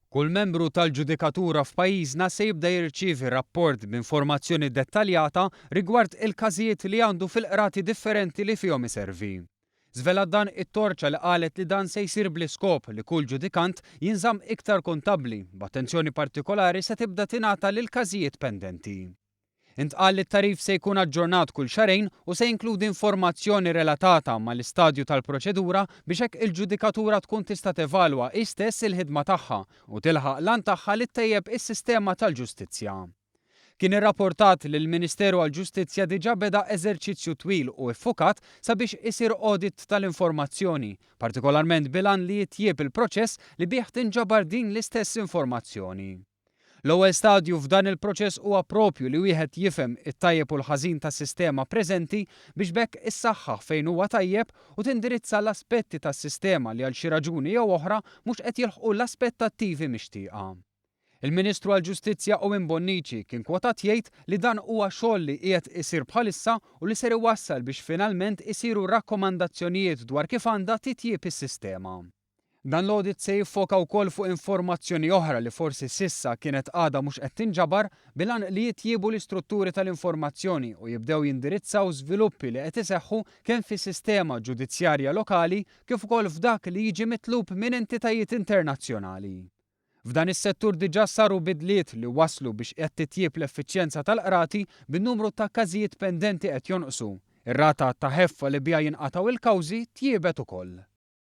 Kull membru tal-ġudikatura f'pajjiżna se jibda jirċievi rapport b'informazzjoni dettaljata rigward il-każijiet li għandu fil-qrati differenti li fihom iservi. Żvelat dan it-torċa li qalet li dan se jsir bl-iskop li kull ġudikant jinżamm iktar kuntabbli, b'attenzjoni partikolari se tibda tingħata lill-każijiet pendenti. Intqal li t-tagħrif se jkun aġġornat kull xahrejn u se jinkludi informazzjoni relatata mal-istadju tal-proċedura biex hekk il-ġudikatura tkun tista' tevalwa hi stess il-ħidma tagħha u tilħaq l-għan tagħha li ttejjeb is-sistema tal-ġustizzja. Kien irrapportat li l-Ministeru għall-Ġustizzja diġà beda eżerċizzju twil u iffukat sabiex isir audit tal-informazzjoni, partikolarment bil-għan li jitjieb il-proċess li bih tinġabar din l-istess informazzjoni. L-ewwel stadju f'dan il-proċess huwa proprju li wieħed jifhem it-tajjeb u l-ħażin tas-sistema preżenti biex b'hekk issaħħaħ fejn huwa tajjeb u tindirizza l-aspetti tas-sistema li għal xi raġuni jew oħra mhux qed jilħqu l-aspettattivi mixtieqa. Il-Ministru għall-Ġustizzja Owen Bonnici kien kwotat jgħid li dan huwa xogħol li qiegħed isir bħalissa u li ser iwassal biex finalment isiru rakkomandazzjonijiet dwar kif għandha titjieb is-sistema. Dan l-audit se jiffoka wkoll fuq informazzjoni oħra li forsi s'issa kienet għadha mhux qed tinġabar, bil-għan li jitjiebu l-istrutturi tal-informazzjoni u jibdew jindirizzaw żviluppi li qed iseħħu kemm fis-sistema ġudizzjarja lokali kif ukoll f'dak li jiġi mitlub minn entitajiet internazzjonali. F'dan is-settur diġà saru bidliet li wasslu biex qed titjieb l-effiċjenza tal-qrati bin-numru ta' każijiet pendenti qed jonqsu. Ir-rata ta' ħeffa li biha jinqatgħu l-kawżi tjiebet ukoll.